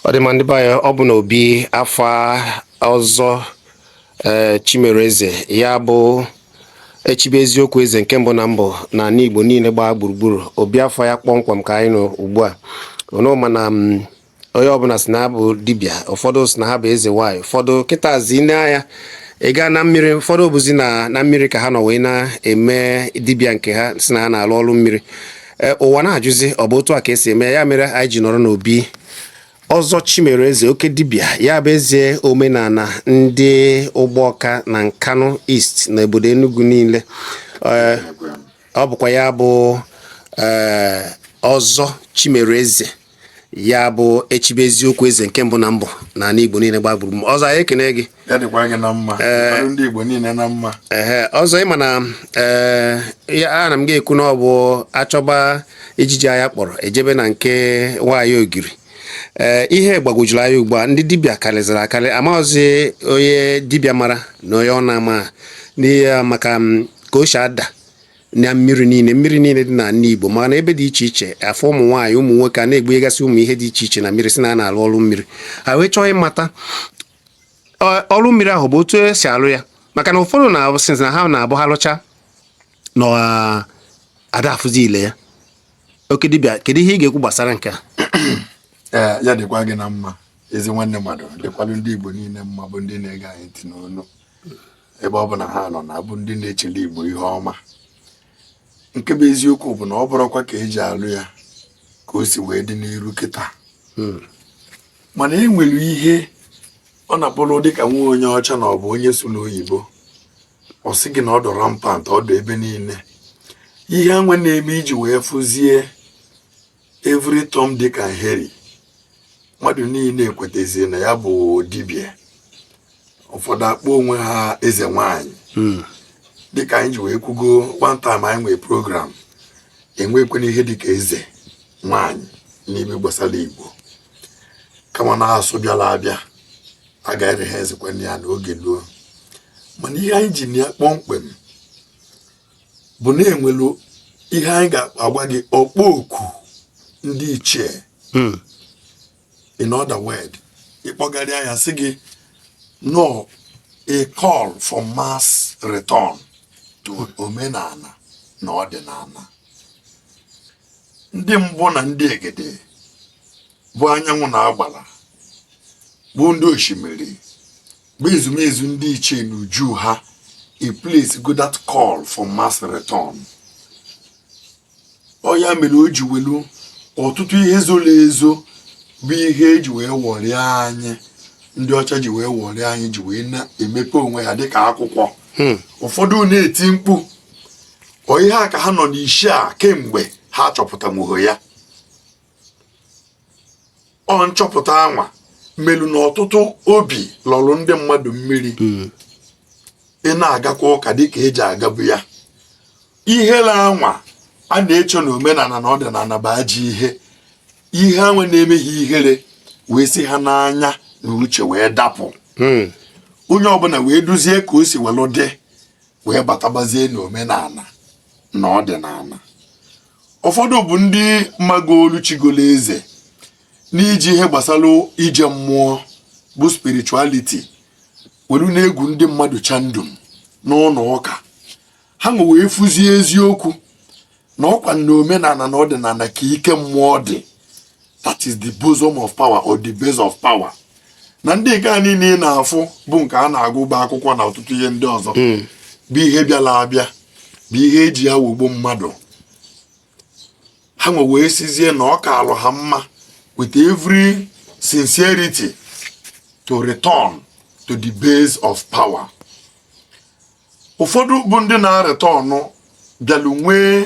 ọ dị ma ndị be anyị ọ bụ na obi afa ọzọ ee chimere eze ya bụ echibe eziokwu eze nke mbụ na mbụ na ala igbo niile gbaa gburugburu obi afa ya kpọmkwem ka anyị nọ ugbu a ụnụ ma na m, onye ọbụla sị na ha bụ dibịa ụfọdụ sị na ha bụ eze nwanyị ụfọdụ kịtazi nee anya ị gaa na mmiri ụfọdụ bụzi na na mmiri ka ha nọ wee na-eme dibịa nke ha sị na ha na-alụ ọrụ mmiri Ee, ụwa na-ajụzi ọ bụ otu a ka esi eme ya ya mere anyị ji nọrọ n'obi ọzọ chimere eze oke dibịa ya bụ eze omenala ndị ugbawka na nkanu east na obodo enugu niile Ee, ọ bụkwa ya bụ ee, ọzọ chimere eze ya bụ echibe eziokwu eze nke mbụ na mbụ na ala igbo niile gbaa gburugburu ọzọ anyị ekene gị ya dịkwa gị na mma ọrụ ndị igbo niile na mma ehe ọzọ ị ma na ee ya ana m ga-ekwu na ọ bụ a chọba ijiji anya kpọrọ e jebe na nke nwaanyị ogiri ee ihe gbagwojuru anya ugbu a ndị dibịa karịzịrị akarị amaghịzi onye dibịa mara na onye ọ na-ama n'ihi ya maka m, ka o si ada na mmiri niile mmiri niile dị na ala Igbo maka na ebe dị iche iche a fụ ụmụ nwaanyị ụmụ nwoke a na-egbugasị ụmụ ihe dị iche iche na mmiri sị na a na-alụ ọrụ mmiri ha wee chọọ ịmata ọ- ọrụ mmiri ahụ bụ otu esi alụ ya maka na ụfọdụ na-abụ sị na ha na-abụ ha lụchaa na ọ- ada afụzi ile ya oke dibịa kedu ihe ị ga-ekwu gbasara nke a ee ya dịkwa gị na mma ezi nwanne mmadụ dịkwalụ ndị igbo niile mma bụ ndị na-ege anyị ntị n'olu ebe ọbụna ha nọ na-abụ ndị na-echele Igbo ihe ọma nke bụ eziokwu bụ na ọ bụrọkwa ka e ji alụ ya ka o si wee dị n'iru kịta hmm. mana e nwere ihe ọ na-abụrụ dịka nwa onye ọcha na ọ bụ onye sụlụ oyibo ọ sị gị na ọ dụ rampant ọ dụ ebe niile ihe a wee na-eme i ji wee fụzie every Tom Dick and Harry mmadụ niile ekwetazi na ya bụ dibịa ụfọdụ akpọọ onwe ha eze nwanyị hmm. dịka anyị ji wee kwugo one time anyị nwee program enwekwana ihe dịka eze nwanyị n'ihe gbasara Igbo kama na asụ bịara abịa a ga-ere ha ezekwana ya n'oge luo mana ihe anyị ji na ya kpọmkwem bụ na e nwelụ ihe anyị ga-agwa gị ọkpọ oku ndị ichie hmm. in other word ị kpọgharịa ya sị gị na ọ a call for mass return to omenala na ọdịnala ndị mbụ na ndị egede bụ anyanwụ na agbara bụ ndị osimiri bụ ezumezu ndị ichie n'uju ha a place go that call for mass return ọ ya mere o ji welu ọtụtụ ihe zoro ezo bụ ihe eji wee wọrịa anyị ndị ọcha ji wee wọrịa anyị ji wee na-emepe onwe ha dịka akwụkwọ hmm. ụfọdụ na-eti mkpu ọ ihe a ka ha nọ n'isi ya kemgbe ha chọpụtanwughị ya ọ nchọpụta anwa melu na ọtụtụ obi lọrụ ndị mmadụ mmiri hmm. ị na-agakwa ụka dịka eji agabu ya ihere anwa a na-eche na omenala na ọdịnala bụ ajọ ihe ihe anwa na-eme gị ihere wee si ha n'anya na uche wee dapụ hmm. onye ọbụla wee duzie ka o si welu dị wee batabazie n'omenala na ọdịnala ụfọdụ bụ ndị magolu chigolo eze n'iji ihe gbasara ije mmụọ bụ spirituality welu na-egwu ndị mmadụ chandum n'ụlọ ụka ha nwe wee fụzie eziokwu na ọkwa n'omenala na ọdịnala ka ike mmụọ dị that is the bosom of power or the base of power na ndị nke a niile ị na-afụ bụ nke a na-agụba akwụkwọ na ọtụtụ ihe ndị ọzọ hmm. bụ ihe bịala abịa bụ ihe eji ya wọgbuo mmadụ ha nwe wee sịzie na ọ kaalụ ha mma with every sincerity to return to the base of power ụfọdụ bụ ndị na-aretọnụ bịalụ nwee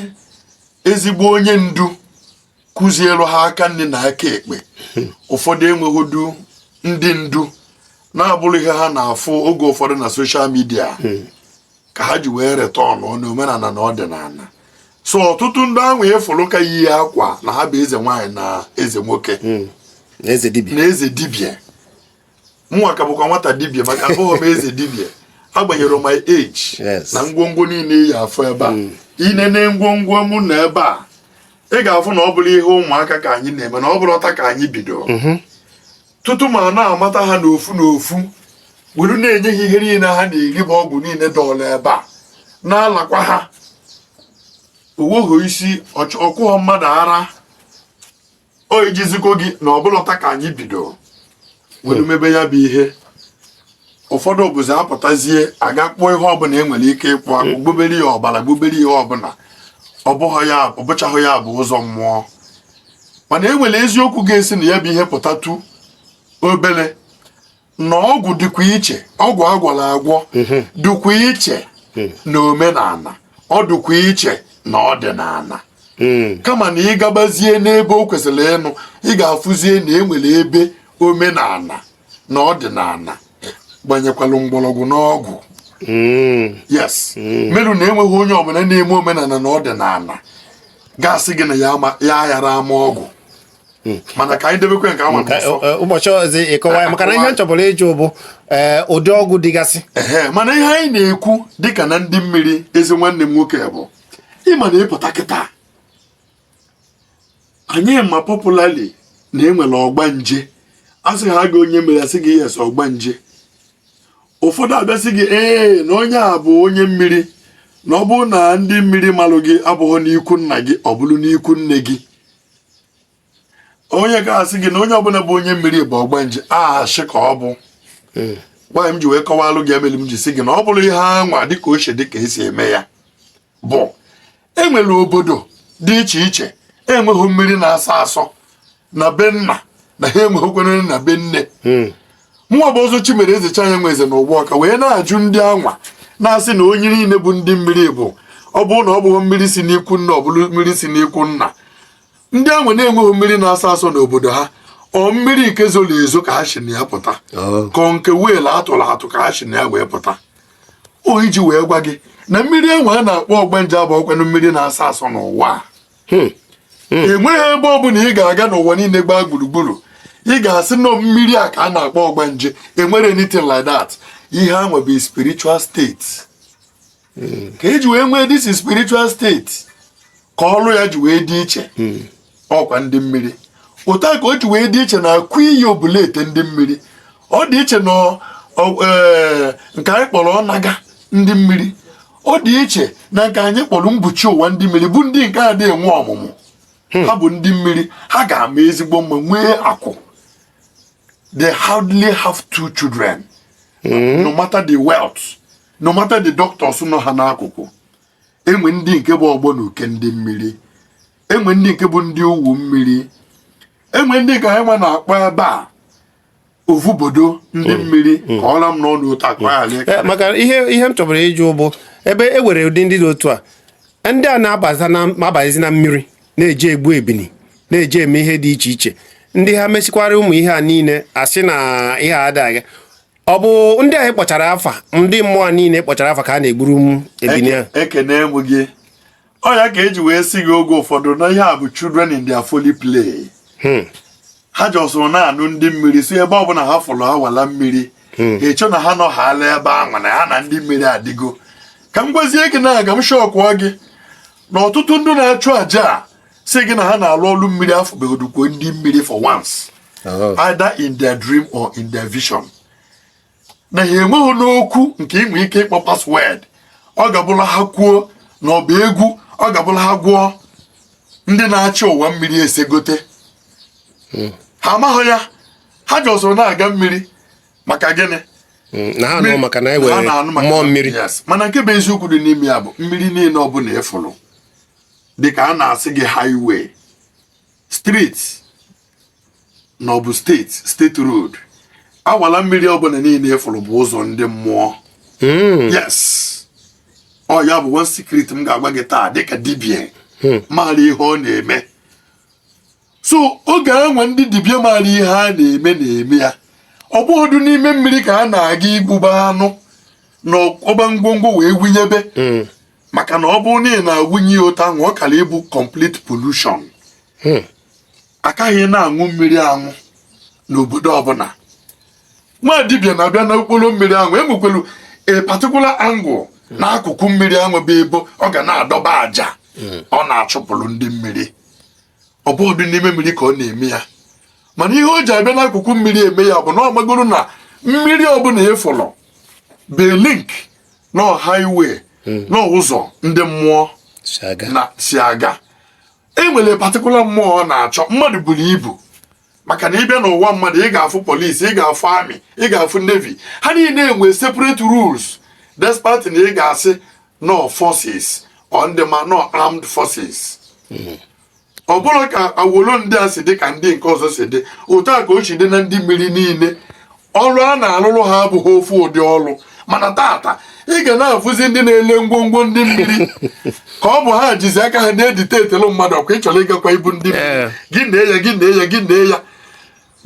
ezigbo onye ndu kụzielu ha aka nni na aka ekpe ụfọdụ enweghịdu ndị ndu na-abụrọ ihe ha na-afụ oge ụfọdụ na social media ka ha ji wee retọnụ n'omenala na ọdịnala so ọtụtụ ndị anwa ị fụrụ ka yi akwa na ha bụ eze nwaanyị na eze nwoke na eze dibịa mụnwa ka bụkwa nwata dibịa maka abụghị m eze dibịa agbanyere my age na ngwongwo niile ị ya-afụ ebe a hmm. i nene ngwongwo m nọ ebe a ị ga-afụ na ọ bụrọ ihe ụmụaka ka anyị na-eme na ọ bụrọ taa ka anyị bido mhm. tutu m ana-amata ha n'ofu n'ofu were na-enye ha ihe niile ha na-eri bụ ọgwụ niile dọlụ ebe a na-alakwa ha owoho isi ọ kụghọ mmadụ ara o ijizikwo gị na ọ bụlọ taa ka anyị bido were mebe ya bụ ihe ụfọdụ bụzi apụtazie a gaa kpụọ ihe ọbụla e nwere ike ịkpụ akpụ gbubere ya ọbara gbubere ihe ọbụla ọ bụchaghị ya bụ ụzọ mmụọ mana e nwere eziokwu ga-esi na ya bụ ihe pụtatu obere na ọgwụ dịkwa iche ọgwụ agwọrọ agwọ mhm. dịkwa iche hmm. na omenala ọ dịkwa iche na ọdịnala hmm. kama na ị gabazie n'ebe o kwesịrị ịnụ ị ga-afụzie na e nwere ebe omenala na ọdịnala gbanyekwalụ mgbọrọgwụ n'ọgwụ hmm. yes merụ na enweghị onye ọbụla na-eme omenala na ọdịnala ga-asị gị na ya aghara ama ọgwụ hmm. mana ka anyị debekwe nke ahụ ụbọchị ọzọ ịkọwa ya maka na ihe m chọburu ịjụ bụ eh, ụdị ọgwụ dịgasị mana ihe anyị na-ekwu dịka na ndị mmiri ezi nwanne m nwoke bụ ị ma na ị pụta kịta anyị ma popularly na enwere ọgbanje a sị ha gị onye mmiri asị gị yes ọgbanje ụfọdụ abịasị gị ee na onye a bụ onye mmiri na ọ bụrụ na ndị mmiri malụ gị abụghị n'ikwu nna gị ọ bụrụ n'ikwu nne gị onye ga-asị gị na onye ọbụla bụ onye mmiri bụ ọgbanje ashị ka ọ bụ hmm. nwaanyị m ji wee kọwalụ gị ya melụ m ji sị gị na ọ bụrụ ihe anwa dịka o shi dịka esi eme ya bụ enwere obodo dị iche iche enweghị mmiri na-asọ asọ na be nna na ha enweghịkwana na be nne hmm. mụnwa bụ Ọzọ Chimereze Chanyanweze na Ụgbọka wee na-ajụ ndị anwa na-asị na onye niile bụ ndị mmiri bụ ọ bụrụ na ọ bụghị mmiri si n'ikwu nne ọ bụrụ mmiri si n'ikwu nna ndị anwa na-enweghị mmiri na-asọ asọ n'obodo ha ọ mmiri nke zoro ezo ka ha si na ya pụta oh. ka nke well atụrụ atụ ka ha si na ya wee pụta o iji wee gwa gị na mmiri anwa a na-akpọ ọgbanje abụrọkwanụ mmiri na-asọ asọ n'ụwa a hmm. Hmm. enweghị ebe ọ bụla ị ga-aga n'ụwa niile gbaa gburugburu ị ga-asị na ọ mmiri a ka a na-akpọ ọgbanje enwerọ anything like that ihe anwa bụ spiritual state hmm. ka eji wee nwee this spiritual state ka ọrụ ya ji wee dị iche ọkwa ndị mmiri otu a ka o ji wee dị iche na akụ iyi obula ete ndị mmiri ọ dị iche na e, nke anyị kpọrọ ọnaga ndị mmiri ọ dị iche na nke anyị kpọrọ mbuchi ụwa ndị mmiri bụ ndị nke adịghị enwe ọmụmụ hmm. ha bụ ndị mmiri ha ga-ama ezigbo mma nwee akụ they hardly have two children hmm. no matter the wealth no matter the doctors nọ ha n'akụkụ enwe ndị nke bụ ọgbọ na uke ndị mmiri enwe ndị nke bụ ndị owu mmiri enwe ndị nke anyị nwa na-akpọ ebe a ovubodo ndị mm. mmiri mm. ka ọra m n'ọnụ otu akụ mm. eh, maka ihe ihe m chọburu ịjụ bụ ebe e nwere ụdị ndị dị otu a ndị a na-abazi na mmiri na-eje egbu ebini na-eje eme ihe dị iche iche ndị a mesịkwara ụmụ ihe a niile asị na ihe a adịghị ọ bụ ndị anyị kpọchara afa ndị mmụọ niile kpọchara afa ka a na-egburu ebini ahụ ekene m gị ọ ya ka e ji wee sị gị oge ụfọdụ na ihe a bụ children in their folly play hmm. ha jọsụrụ na-anụ ndị mmiri sị ebe ọ bụla ha fụrụ awala mmiri hmm. ha eche na ha nọ ha ala ebe ahụ na ha na ndị mmiri adịgo ka m gwazie gị na aga m shọkụọ gị na ọtụtụ ndị na-achụ aja asị gị na ha na-alụ ọlụ mmiri afụbegodukwo ndị mmiri for once oh. either in their dream or in their vision na ha enweghị n'okwu nke inwe ike ịkpọ password ọ ga-abụla ha kwuo na ọ bụ egwu ọ ga-abụla ha gwụọ ndị na-achị ụwa mmiri esegote hmm. ha amaghị ya ha jọsụrụ na-aga mmiri maka gịnị hmm, na ha nụ maka na e nwere mmụọ mmiri mana nke bụ eziokwu dị n'ime ya bụ mmiri niile ọbụla ị fụrụ dịka a na-asị gị highway street na ọ bụ state state road awala mmiri ọbụla niile ị fụrụ bụ ụzọ ndị mmụọ hmm. yes ọ ya bụ one secret m ga-agwa gị taa dịka dibịa hmm. maara ihe ọ na-eme so oge e nwe ndị dibịa maara ihe ha na-eme na-eme ya ọ bụghịdụ n'ime mmiri ka a na-aga igbuba anụ na ọba ngwongwo wee wụnyebe hmm. maka na ọ bụrụ na ị na-awụnye ya otu ahụ ọ kara ịbụ complete pollution hmm. a kaghị na-aṅụ mmiri aṅụ n'obodo ọbụla nwa dibịa na-abịa n'okporo mmiri ahụ e nwekwelu a particular angle hmm. n'akụkụ mmiri ahụ bụ ebe ọ ga na-adọba aja hmm. ọ na-achụpụrụ ndị mmiri ọ bụghịdụ n'ime mmiri ka ọ na-eme ya mana ihe o ji abịa n'akụkụ mmiri eme ya bụ na ọ magoro na mmiri ọbụla ị fụlụ bụ link na highway hmm. na ụzọ ndị mmụọ si aga e nwere particular mmụọ ọ na-achọ mmadụ buru ibu maka na ị bịa n'ụwa mmadụ ị ga-afụ police ị ga-afụ army ị ga-afụ navy ha niile enwe separate rules despite na ị ga-asị na ọ forces or ndị ma na ọ armed forces hmm. ọ bụrọ ka awolo ndị a si dị ka ndị nke ọzọ si dị otu a ka o si dị na ndị mmiri niile ọrụ a na-arụrụ ha abụghị ofu ụdị ọrụ mana tata ị ga na-afụzi ndị na-ele ngwongwo ndị mmiri ka ọ bụ ha jizi aka ha na-edictatelu mmadụ ọkwa ị chọrọ ịgakwa ibu ndị mmiri eh. gị na ya gị na ya gị na ya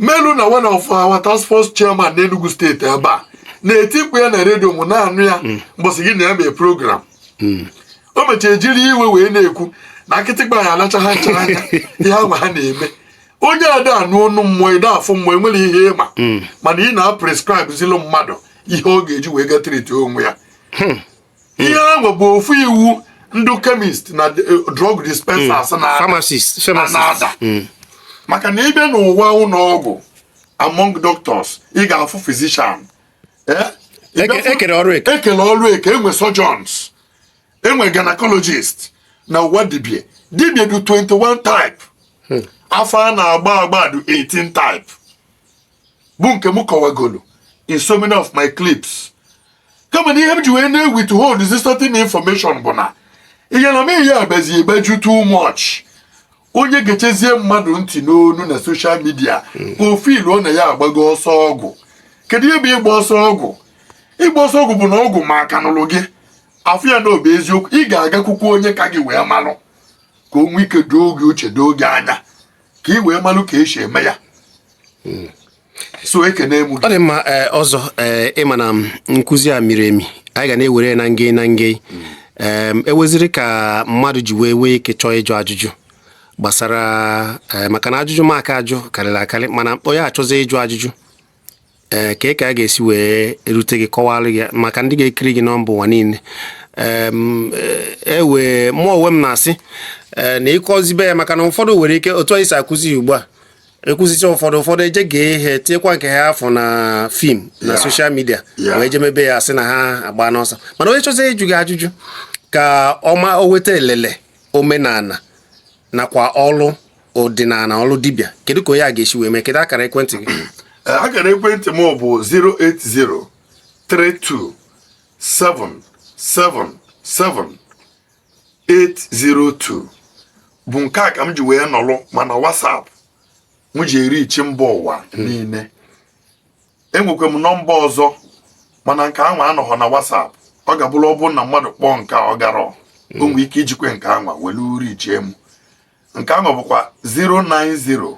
melu na one of our task force chairman n'Enugu State ebe a na-etikwu ya na redio mụ na-anụ ya hmm. mbọsị gị na ya mee program hmm. o mechara jiri iwe wee na-ekwu na akịtịkpa ya-alacha ha nchara anya ihe ahụ ha na-eme onye ada-anụ ọnụ mmụọ ị da-afụ mmụọ e nwere ihe ị ma hmm. mana ị na-aprescribezilụ mmadụ ihe ọ ga-eji wee ga treat onwe ya hmm. ihe ahụ bụ ofu iwu ndị chemist na eh, drug dispensers hmm. na-ada maka na ị bịa n'ụwa ụlọ ọgwụ among doctors ị ga-afụ physician eh? e kele ọrụ eke e nwe surgeons enwere gynecologist na ụwa dibia dibia dị 21 type hmm. afa a na-agba agba dị 18 type bụ nke m kọwagolu in so many of my clips kama na ihe m ji wee na-withhold this certain information bụ na ihe na m ihe abazi ebeju too much onye gechazie mmadụ ntị n'ọnụ na social media hmm. o feeluo na ya agbago ọsọ ọgwụ kedu ihe bụ ịgba ọsọ ọgwụ ịgba ọsọ ọgwụ bụ na ọgwụ ma aka nụlụ gị afụ ya na ọ bụ eziokwu ị ga-agakwukwu onye ka gị wee malụ ka o nwee ike doo gị uche doo gị anya ka ị wee malụ ka e si eme ya hmm. so ekene egbu ọ dị mma ee, Ọzọ ee, ị ma na m, nkụzi a miri emi anyị ga na-ewere ya na nge na nge Em, e nweziri ka mmadụ ji wee nwee ike chọọ ịjụ ajụjụ gbasara ee, maka na ajụjụ m ga-ajụ karịrị akarị mana onye chọzi ịjụ ajụjụ ee ka ka a ga-esi wee erute gị kọwara gị maka ndị ga-ekiri gị na mba ụwa niile Em, eh, e wee mụ onwe m na-asị eh, na ị kụzibe ya maka na ụfọdụ nwere ike otu anyị si akụzi ya ugbu a a kụzicha ụfọdụ ụfọdụ eje gee ihe tiekwa nke ha fụ na film na social media wee jee mebe ya sị na ha agbana ọsọ mana onye chọzi ịjụ gị ajụjụ ka ọ ma o nweta elele omenala nakwa ọlụ ọdịnala ọlụ dibịa kedu ka onye a ga-esi wee mee kedu akara ekwentị gị eh, akara ekwentị m bụ 08032777 802 bụ nke a ka m ji wee nọlụ ma na WhatsApp m ji e-reach mba ụwa hmm. niile enwekwa m nọmba ọzọ mana nke anwa anọghọ na WhatsApp ọ ga-abụrụ ọ bụrụ na mmadụ kpọọ nke ọ garọ o hmm. nwee ike ijikwe nke anwa welu reachie m nke anwa bụkwa 090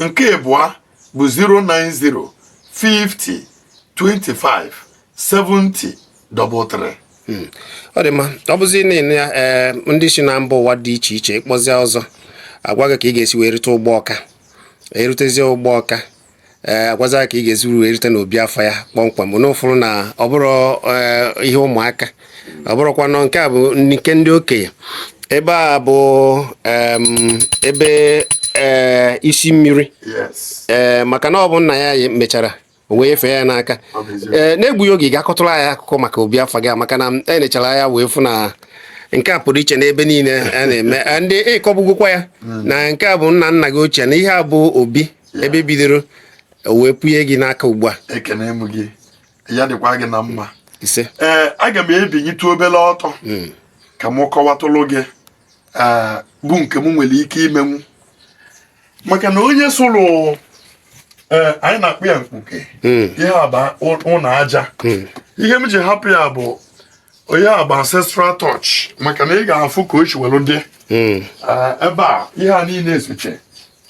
nke ịbụa bụ 090 50 25 70 33 ọ dị mma ọ bụzi na-ene ya ee ndị si na mba ụwa dị iche iche ị kpọzịa Ọzọ a gwa gị ka ị ga-esi wee rute Ugbawka i rutezie Ugbawka ee a gwazịa ka ị ga-esi wee rute n'obi afa ya kpọmkwem ụnụ fụrụ na ọ bụrọ ee, ihe ụmụaka ọ bụrụkwa na nke a bụ nke ndị okenye ebe a bụ ebe e, isi mmiri ee e, maka na ọ bụ nna ya mechara wee nyefee ya n'aka ee e, na-egbughị oge ị ga-akọtụrụ anyị akụkọ maka obi afa gị maka na e nechara ya wee fụ na nke a pụrụ iche n'ebe niile a na-eme ndị ị kọbugokwa ya hmm. na nke a bụ nna nna gị ochie na ihe a bụ obi ebe e bidoro wee pụnye gị n'aka ugbu a ya dịkwa gị na mma ise ee aga m ebinyitụ obere ọtọ Mm. ka m kọwatụlụ gị ee, bụ nke m nwere ike imenwu maka na onye sụrụ ee, anyị na-akpọ ya mkpuke Mm. ihe a bụ ụ- ụlọ aja Mm. ihe m ji hapụ ya bụ onye a bụ ancestral touch maka na ị ga-afụ ka o si were dị Mm. Ee, ebe a ihe a niile esoche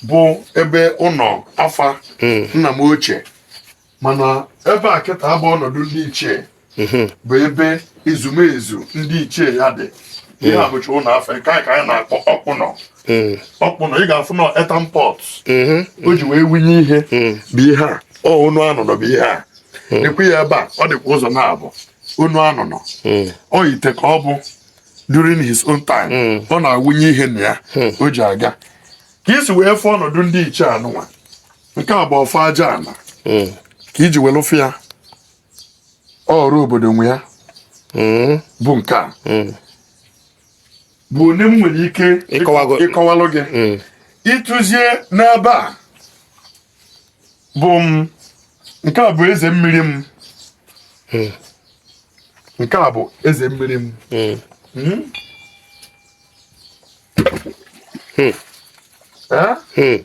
bụ ebe ụlọ afa Mm. nna m ochie mana ebe a kịtaa bụ ọnọdụ ndị ichie mhm. bụ ebe ezumezu ndị ichie ya dị ihe a bụcha ụlọ afa nke anyị ka anyị na-akpọ ọkpụnọ mhm. ọkpụnọ ị ga-afụ na earthen pot mhm. o ji wee wunye ihe bụ ihe a ọ onu anụnọ bụ ihe a ekwu ya ebe a ọ dịkwa ụzọ naabọ onu anụnọ ọ ite ka ọ bụ during his own time ọ na-awụnye ihe na ya o ji aga ka i si wee fụ ọnọdụ ndị ichie anụnwa nke a bụ ọfọ aja ana mm. ka i ji welụ fụ ya ọra obodo nwe ya mm. bụ nke a mm. bụ onye m nwere ike ịkọwalụ gị ịtụzie n'ebe a bụ m nke a bụ eze mmiri m nke a bụ eze mmiri m hmm? Hmm. Eh? Hmm.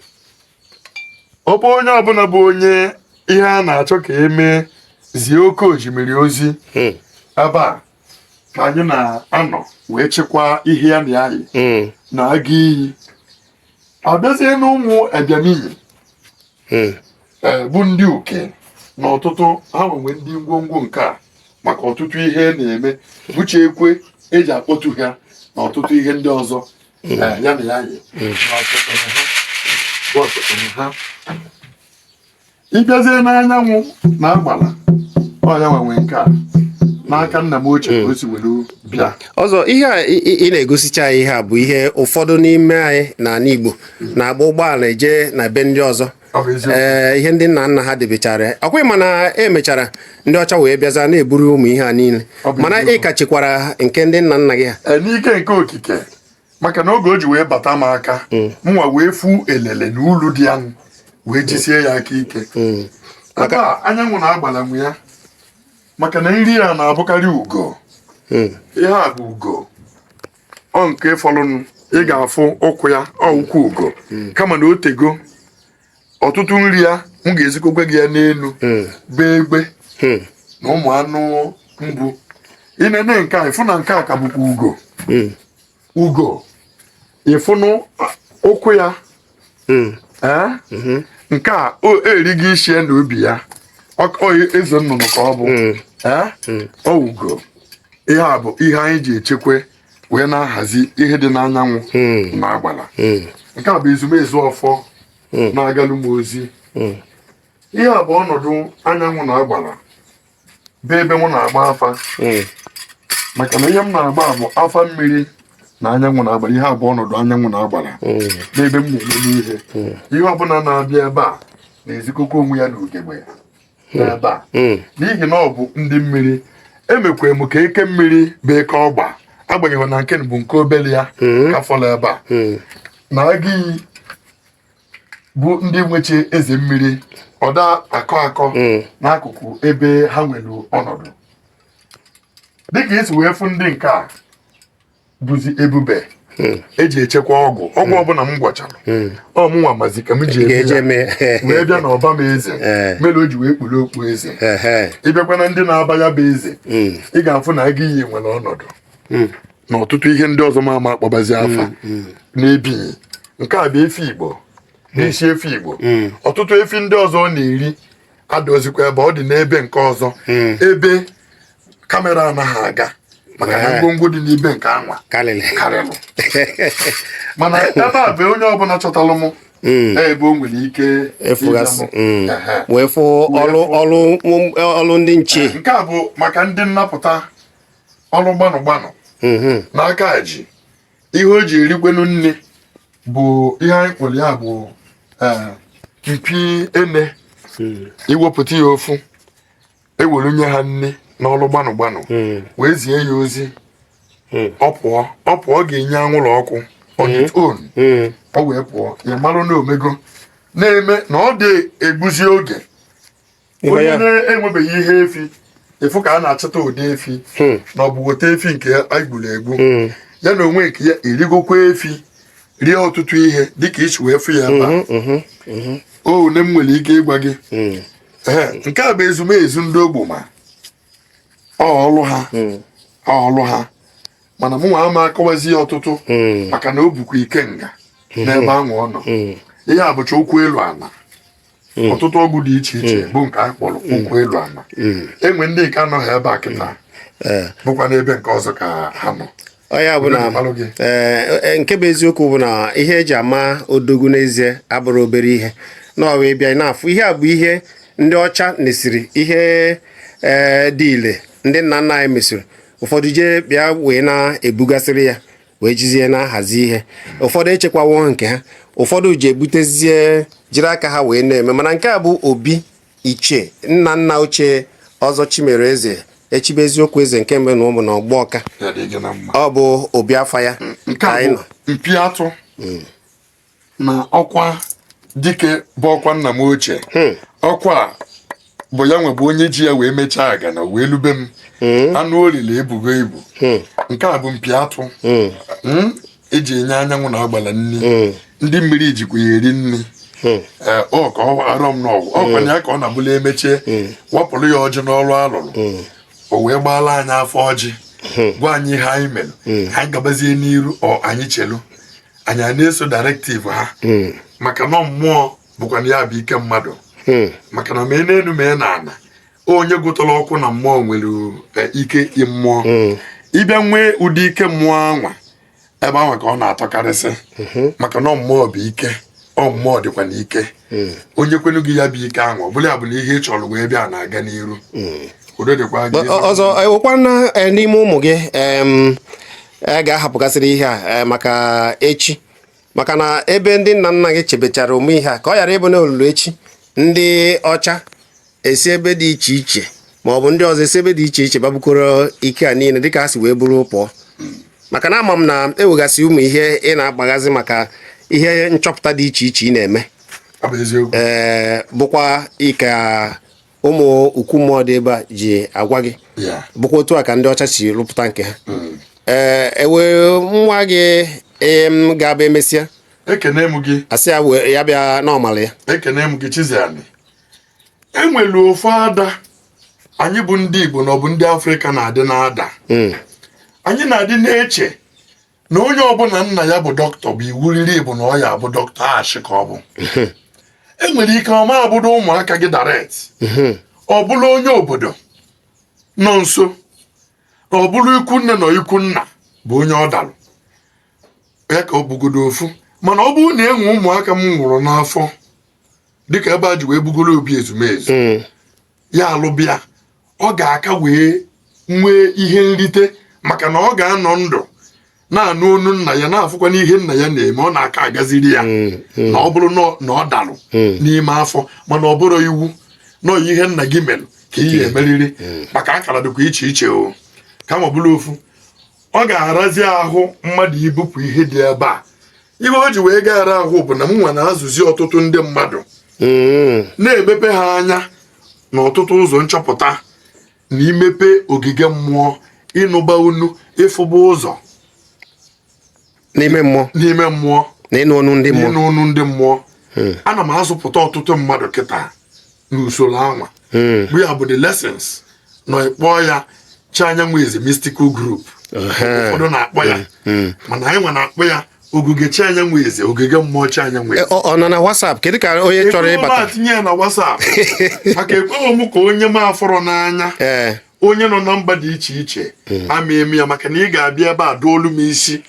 ọ bụ onye ọbụla bụ onye ihe a na-achọ ka e mee zie oke osimiri ozi hmm. ebe a ka anyị na-anọ wee chekwaa ihe ya na anyị hmm. na-aga iyi a bịazie n'ụmụ ebịamiyi hmm. e, bụ ndị uke na ọtụtụ ha nwenwe ndị ngwongwo nke a maka ọtụtụ ihe a na-eme bụcha ekwe e ji akpọtu ha na ọtụtụ ihe ndị ọzọ ị bịazie n'anyanwụ na agbala ọ ya nwenwe nke a n'aka nna m ochie ka o si were bịa ọzọ ihe a ị ị na-egosicha anyị ihe a bụ ihe ụfọdụ n'ime anyị n'ala Igbo na-agba ụgbọala eje na be ndị ọzọ ee ihe ndị nna nna ha debechara ọkwa ị ma na e mechara ndị ọcha wee bịaza na-eburu ụmụ ihe a niile mana ị ka chekwara nke ndị nna nna gị ha e, n'ike nke okike maka na oge o ji wee bata m aka hmm. mụnwa wee fụ elele na ulu dị ya nụ wee jisie ya aka ike hmm. ebe a anyanwụ na agbala nwe ya maka na nri ya na-abụkarị ugo hmm. ihe a bụ ugo ọ nke fọlụnụ ị ga-afụ ụkwụ ya ọ ụkwụ ugo hmm. kama na o tego ọtụtụ nri ya m ga-ezikọkwa gị ya n'elu hmm. bụ egbe hmm. na ụmụ anụ mbụ ị nene nke a ị fụ na nke a ka bụkwa ugo ugo ị fụnụ ụkwụ ya hmm. eh? mhm. nke a erigo isi ya na obi ya eze nnụnụ ka ọ bụ hmm. eh? hmm. ọ ugo ihe a bụ ihe anyị ji echekwa wee na-ahazi ihe dị n'anyanwụ na agbala nke a bụ ezumezu ọfọ na-agalụ m ozi ihe a bụ ọnọdụ anyanwụ na agbala bụ ebe m na-agba afa hmm. maka na ihe m na-agba bụ afa mmiri na anyanwụ na agbara ihe a bụ ọnọdụ anyanwụ na agbara hmm. bụ ebe m na-emebe ihe hmm. ihe ọbụna na-abịa ebe a na-ezikọkọ onwe ya na ugegbe ya n'ebe a n'ihi na ọ bụ ndị mmiri emekwa m ka eke mmiri bụ eke ọgba agbanyeghị na nke bụ nke obele ya ka fọlụ ebe a na agụ iyi bụ ndị na-eche eze mmiri ọda akọ akọ hmm. n'akụkụ ebe ha nwere ọnọdụ dịka i si wee fụ ndị nke a bụzi ebube hmm. eji echekwa ọgwụ ọgwụ hmm. ọbụna m gwọchara ọ mụnwa mazi ka m ji eme wee bịa n'ọba m eze eh. mere o ji wee kpuru okpu eze ịbịakwa na ndị na-aba ya bụ eze ị ga-afụ na agụ iyi nwere ọnọdụ hmm. na ọtụtụ ihe ndị ọzọ m ama akpọbazi hmm, afa hmm. n'ebinyi nke a bụ efi igbo na isi efi igbo ọtụtụ efi ndị ọzọ ọ na-eri adọzikwa ebe ọ dị n'ebe nke ọzọ ebe kamera anaghị aga maka na ngwongwo dị n'ibe nke anwa karịrị mana ebe a bụ onye ọbụna chọtalụ m Mm. ebe o nwere ike ịfụgasị mm. wee fụ ọlụ ndị nche nke a bụ maka ndị nnapụta ọlụ gbanụ gbanụ mhm. n'aka ji ihe o ji erikwanụ nni bụ ihe anyị kpọrọ ya bụ eh, mpi ene hmm. i wepụta ya ofu e were nye ha nni n'ọlụ gbanụ gbanụ hmm. wee zie ya ozi hmm. ọ pụọ ọ pụọ ga-enye anwụrụ ọkụ on its own ọ wee pụọ ị malụ na o mego na-eme na ọ dị egbuzi oge onye na-enwebeghị ihe efi efu ka a na-achọta ụdị efi hmm. na ọ bụ weta efi nke egburu egbu hmm. ya na onwe nke ya erigokwa efi rie ọtụtụ ihe dịka i si wee fụ ya ebe hmm, one m nwere ike ịgwa gị nke a bụ ezumezu ndị ogboma ọlụ ha ọlụ ha mana mụ nwa ama akọwazi ya ọtụtụ maka na o bukwa ikenga n'ebe ahụ ọ nọ ihe a bụcha ụkwụ elu ana hmm. ọtụtụ ọgwụ dị iche iche hmm. bụ nke anyị kpọrọ hmm. ụkwụ elu ana e nwee ndị nke anọghị ebe a kịta eh. bụkwa n'ebe nke ọzọ ka ha nọ ọ ya bụ na eh, eh, nke bụ eziokwu bụ na ihe eji ama odogwu n'ezie abụrọ obere ihe na ọ wee bịa na-afụ ihe a bụ ihe ndị ọcha nesịrị ihe dị ile ndị nna nna anyị mesịrị ụfọdụ ji bịa wee na-ebugasịrị ya wee jizie na-ahazi ihe ụfọdụ echekwawo nke ha ụfọdụ ji ebutezie jiri aka ha wee na-eme mana nke a bụ obi ichie nna nna ochie ọzọ chimere eze echibe eziokwu eze nke mbụ na ụmụ na ọgbọ ọka ọ bụ obi afa ya nke a bụ mpi atụ na ọkwa dike bụ ọkwa nna m ochie hmm. ọkwa bụ ya wee bụ onye ji ya wee mechaa aga na wee lube m hmm. anụ o lili ebugo ibu hmm. nke a bụ mpi atụ eji enye anyanwụ na agbala nri ndị mmiri jikwa ya eri nri Eh, ọ ka ọ arọ m n'ọgwụ ọ kwa ya ka ọ na-abụla emechaa hmm. wapụrụ ya ọjị n'ọlụ alụlụ hmm. o wee gbaala anyị afa ọjị hmm. gwa anyị ihe anyị mere anyị gabazie n'iru ọ anyị chelu anyị a na-eso directive ha hmm. maka na mmụọ bụkwa na ya bụ ike mmadụ hmm. maka na mee n'elu mee na ana onye gụtara ọkụ na mmụọ nwere eh, ike mmụọ hmm. ị bịa nwee ụdị ike mmụọ anwa ebe ahụ ka ọ na-atọkarịsị maka na mmụọ bụ ike ọ mmụọ dịkwa n'ike onye kwenu gị ya bụ ike ahụ ọ bụla ya bụ na ihe ị chọrọ wee bịa na-aga n'iru udo dịkwa gị Ọ- ọzọ eh, nwekwa na eh, n'ime ụmụ gị em, a ga-ahapụgasịrị ihe a eh, maka echi maka na ebe ndị nna nna gị chebechara ụmụ ihe a ka ọ ghara ịbụ na o lulu echi ndị ọcha esi ebe dị iche iche ma ọ bụ ndị ọzọ esi ebe dị iche iche bịa bukọrọ ike a niile dịka ha si wee bụrụ pụọ maka na ama m na e nwegasị ụmụ ihe ị na-agbaghazi maka ihe nchọpụta dị iche iche ị na-eme ọ bụ eziokwu ee bụkwa ike ụmụ ukwu mmụọ dị ebe a ji agwa gị ya bụkwa otu a ka ndị ọcha si rụpụta nke ha ee enwe nwa gị em, ga-abụ emesịa ekene m gị asị ya wee- ya bịa n'ọmala ya ekene m gị Chiziani enwere ofu ada anyị bụ ndị Igbo na ọ bụ ndị Afrịka na-adị na-ada hmm. anyị na-adị na-eche na onye ọbụla nna ya bụ dọkịta bụ iwu riri bụ na ọ ya-abụ dọkịta ashị ka ọ bụ hmm. enwere ike ọ ma abụdo ụmụaka gị direct hmm. ọ bụrụ onye obodo nọ nso ọ bụrụ ikwu nne na ikwu nna bụ onye ọ dalụ ya ka ọ bụgodo ofu mana ọ bụrụ na enwe ụmụaka m mụrụ n'afọ dịka ebe a ji wee bugoro obi ezumezu mm. ya alụbịa ọ ga-aka wee nwee ihe nrite maka na ọ ga-anọ ndụ na-anụ onu nna ya na-afụkwa n'ihe nna ya na-eme ọ na-aka agaziri ya mm, mm. na ọ bụrụ na ọ dalụ n'ime afọ mana ọ bụrọ iwu na ihe nna gị mere ka ị ya-emeriri maka akara dịkwa iche iche ọ kama ọ bụrụ ofu ọ ga-arazi ahụ mmadụ ibupụ ihe dị ebe a ihe o ji wee gaara ahụ bụ na m nwa na-azụzi ọtụtụ ndị mmadụ mm. na-emepe ha anya na ọtụtụ ụzọ nchọpụta na imepe ogige mmụọ ịnụba onu ịfụba ụzọ n'ime mmụọ n'ime mmụọ na ịnụ onu ndị mmụọ ịnụ onu ndị mmụọ hmm. ana m azụpụta ọtụtụ mmadụ kịta n'usoro anwa hmm. bụ ya bụ the lessons na ị kpọọ ya chi anyanwụ eze mystical group ụfọdụ na-akpọ ya hmm, hmm. mana anyị nwa na-akpọ ya ogige chi anyanwụ eze ogige mmụọ chi anyanwụ eze eh, ọ nọ na WhatsApp kedu ka onye chọrọ ịbata tinye ya na WhatsApp maka ekweghị m ka onye m afụrọ n'anya eh. onye nọ na mba dị iche iche ama eme ya maka na ị ga-abịa ebe a duolu m isi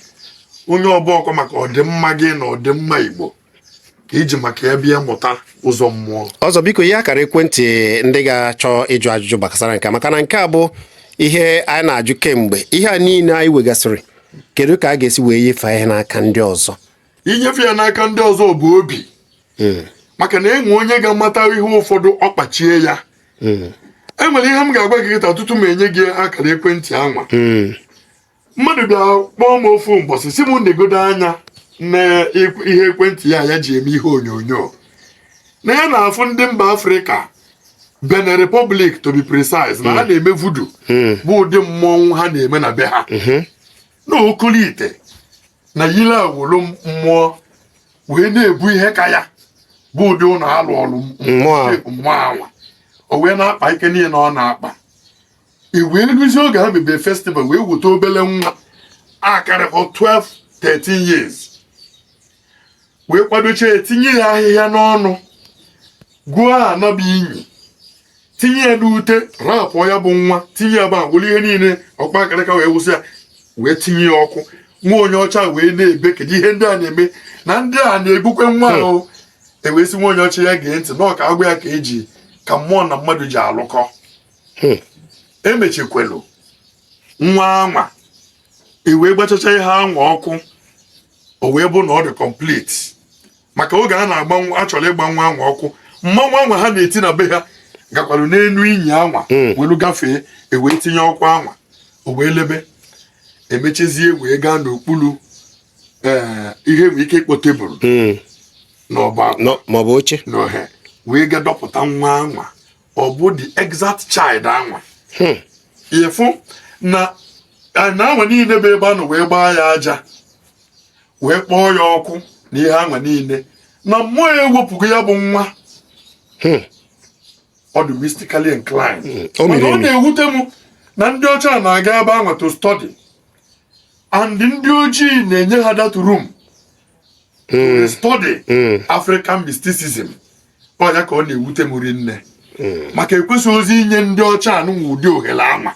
onye ọ bụkwa maka ọdịmma gị na ọdịmma Igbo ka i ji maka ya bịa mụta ụzọ mmụọ ọzọ biko ihe akara ekwentị ndị ga-achọ ịjụ ajụjụ gbasara nke a, maka na nke a bụ ihe anyị na-ajụ kemgbe ihe a niile anyị nwegasịrị kedu ka a ga-esi wee nyefee ihe n'aka ndị ọzọ inyefe ya n'aka ndị ọzọ bụ obi maka na e nwee onye ga-amata ihe ụfọdụ ọ kpachie ya e nwere ihe m ga-agwa gị kịta tutu m enye gị akara ekwentị anwa mmadụ bịa kpọọ m ofu mbọsị sị m negodu anya na ihe ekwentị ya ya ji eme ihe onyonyo na ya na-afụ ndị mba Afrịka Benin Republic to be precise na ha hmm. na-eme vudu hmm. bụ ụdị mmọnwụ ha na-eme na be ha hmm. na o kulite na yili awọlọ mmụọ wee na-ebu ihe ka ya bụ ụdị ụlọ a lụlụ mmụọ anwa o wee na-akpa ike niile na ọ na-akpa e wee ruzie oge ha mebe festival wee weta obele nwa akarịrọ 12 13 years wee kwadocha ya tinye ya ahịhịa n'ọnụ gwuo ana bụ inyi tinye ya n'ute rapụ ya bụ nwa tinye ya ebe e gwuru ihe niile ọkpa akịrịka wee wụsị ya wee tinye ya ọkụ nwa onye ọcha wee na-ebe kedu ihe ndị a na-eme na ndị a na-egbukwe nwa hmm. ahụ e wee sị nwa onye ọcha ya gee ntị na ọ ka-agwa ya ka e ji ka mmụọ na mmadụ ji alụkọ hmm. emechikwelu nwa anwa e wee gbachacha ihe anwa ọkụ o wee bụ na ọ dị complete maka oge a na-agba a chọrọ ịgba nwa anwa ọkụ mmanwụ anwa ha na-eti na be ha gakwara n'elu inyi anwa hmm. welu gafee e wee tinye ọkụ anwa o wee lebe e mechezie wee gaa n'okpuru eh, ihe e nwee ike ịkpọ tebụl hmm. n'ọba maọbụ oche wee ga dọpụta nwa anwa ọ bụ the exact child anwa hmm. ị fụ na anwa niile bụ ebe a nọ wee gbaa ya aja wee kpọọ ya ọkụ na ihe anwa niile na mmụọ ya ewepụgo ya bụ nwa hmm. ọ dị mystically inclined hmm. mana ọ na-ewute m na ndị ọcha na-aga ebe anwa to study and ndị ojii na-enye ha that room to study African mysticism ọ ya ka ọ na-ewute m rinne hmm. maka e kwesịrọzi inye ndị ọcha anụnwa ụdị ohere anwa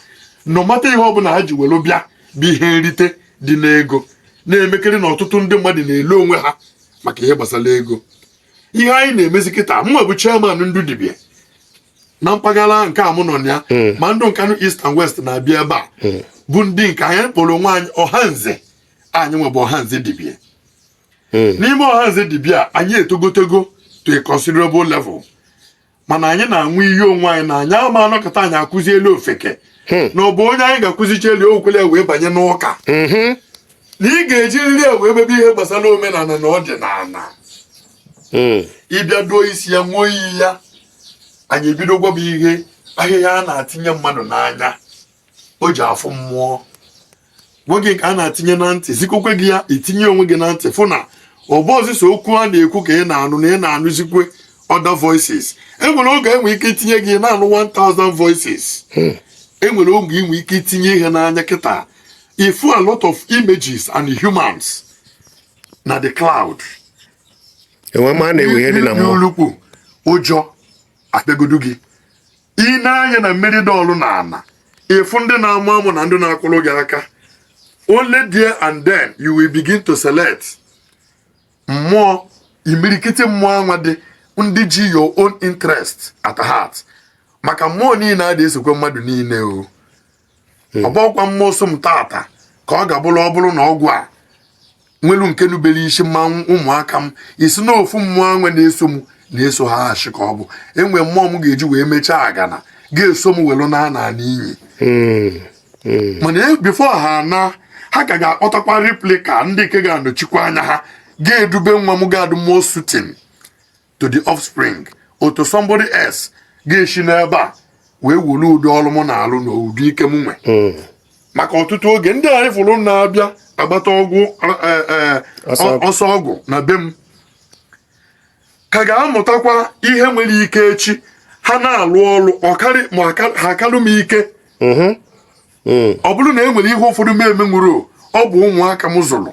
no matter ihe ọbụla ha ji were bịa bụ ihe nrite dị n'ego na-emekere na ọtụtụ ndị mmadụ na-ele onwe ha maka ihe gbasara ego ihe anyị na-emezi kịta mụwa bụ chairman ndụ dibia na mpaghara nke a mụ nọ na ya hmm. ma ndụ Nkanụ East and West na-abịa ebe a hmm. bụ ndị nke anyị kpọrọ onwe anyị ọhanze anyị nwebụ ọhanze dibia hmm. n'ime ọhanze dibia anyị etogotego to a considerable level mana anyị na-anwụ iyi onwe anyị na anyị ama anọkọta anyị akụzielu ofeke hmm. na ọ bụ onye anyị ga-akụzichaelu o kwele wee banye n'ụka mm-hmm. na ị ga-ejiriri ya wee mebe ihe gbasara omenala na ọdịnala hmm. ị bịa duo isi ya nwụọ iyi ya anyị ebido gwaba ihe ahịhịa a na-atinye mmadụ n'anya o ji afụ mmụọ gwa gị nke a na-atinye na ntị zikwekwe gị ya i tinye onwe gị na ntị fụ na ọ bọzi sọ okwu a na-ekwu ka ị na-anụ na ị na-anụzikwe other voices e nwere oge e nwe ike itinye gị na-anụ 1000 voices hmm. e nwere oge i nwe ike itinye ihe n'anya kịta ị fụ a lot of images and humans na the cloud enwe ma na-ewe ihe dị na mmụọ n'ulukpu ụjọ abịagodu gị i nee anya na mmiri dọọlụ na ana ị fụ ndị na-amụ amụ na ndị na-akwụrụ gị aka only there and then you will begin to select mmụọ imirikiti mmụọ anwa dị ndị ji your own interest at heart maka mmụọ niile adị esokwe mmadụ niile o hmm. ọ bọkwa mmụọ so m tata ka ọ ga-abụrụ ọ bụrụ na ọgwụ a nwelu nke nubere isi mmanwụ ụmụaka m ị sị na ofu mmụọ anwa na-eso m na-eso ha echi ka ọ bụ e nwe mmụọ m ga-eji wee mechaa agana ga-eso m welu na ana n'iyi hmm. hmm. mana e, before ha anaa ha ka ga-akpọtakwa replica ndị nke ga-anọchikwa anya ha ga-edube nwa m ga-adị more suiting to the offspring otu somebody else ga-esi n'ebe a wee were ụdị ọrụ m na-alụ na ụdị ike m nwe hmm. maka ọtụtụ oge ndị anyị fụrụ na-abịa agbata ọgwụ e, e, ọsọ ọgwụ na be m ka ga-amụtakwa ihe nwere ike echi ha na-alụ ọrụ ọkarị ma ha akarị m ike mm-hmm. mm. ọ bụrụ na e nwere ihe ụfọdụ m emenwuru ọ bụ ụmụaka m zụrụ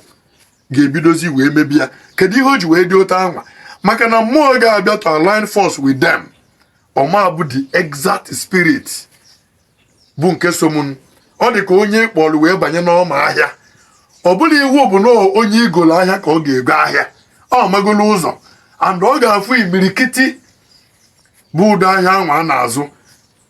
ga-ebidozi wee mebi ya kedu ihe o ji wee dị otu anwa maka na mmụọ ga-abịa to align force with them ọ ma-abụ the exact spirit bụ nke so m ọ dị ka onye kpọrọ wee banye n'ọma ahịa ọ bụla iwu bụ na onye igolo ahịa ka ọ ga-ego ahịa ọ magolo ụzọ and ọ ga-afụ imirikiti bụ ụdị ahịa anwa a na-azụ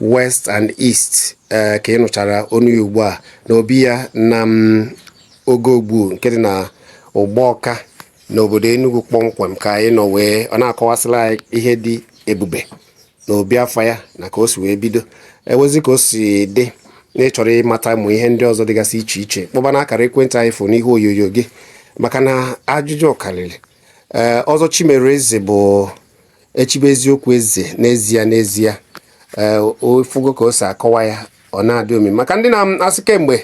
west and east ee ka ị nụchara ọnụ ya ugbu a na obi ya na m oge ogbu nke dị na Ugbawka n'obodo Enugu kpọmkwem ka anyị nọ wee ọ na-akọwasịrị anyị ihe dị ebube na obi afa ya na ka o si wee bido ewezi ka o si dị na ị chọrọ ịmata ụmụ ihe ndị ọzọ dịgasị iche iche kpọba na akara ekwentị anyị fụ n'ihu onyonyo gị maka na ajụjụ karịrị ee Ọzọ Chimereze bụ echibe eziokwu eze n'ezie n'ezie ee ị fụgo ka o si akọwa ya ọ na-adị omi maka ndị na-asị kedu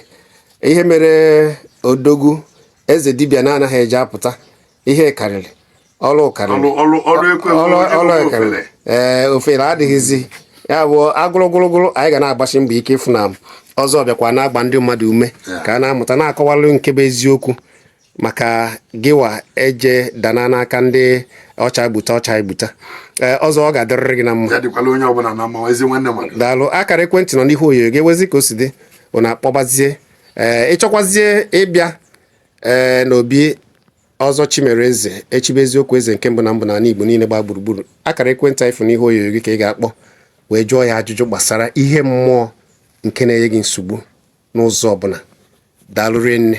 ihe mere odogwu eze dibịa na-anaghị eji apụta ihe karịrị ọrụ karịrị ọrụ karịrị ee ofere adịghịzi ya bụ agụrụgụrụgụrụ anyị ga na-agbasi mbọ ike ịfụ na Ọzọ bịakwa na-agba ndị mmadụ ume ka a na-amụta na-akọwalụ nke bụ eziokwu maka gịwa eje dana n'aka ndị ọcha gbuta ọcha gbuta ee ọzọ ọ ga-adịrịrị gị na mma ya dịkwala onye ọbụla na mma ezi nwanne mmadụ daalụ akara ekwentị nọ n'ihu onyonyo gị ewezi ka o si dị unu akpọbazie ee ị chọkwazie ịbịa ee n'obi Ọzọ Chimereze echibe eziokwu eze nke mbụ na mbụ n'ala Igbo niile gbaa gburugburu akara ekwentị anyị fụ n'ihu onyonyo gị ka ị ga-akpọ wee jụọ ya ajụjụ gbasara ihe mmụọ nke na-enye gị nsogbu n'ụzọ ọbụla daalụ rinne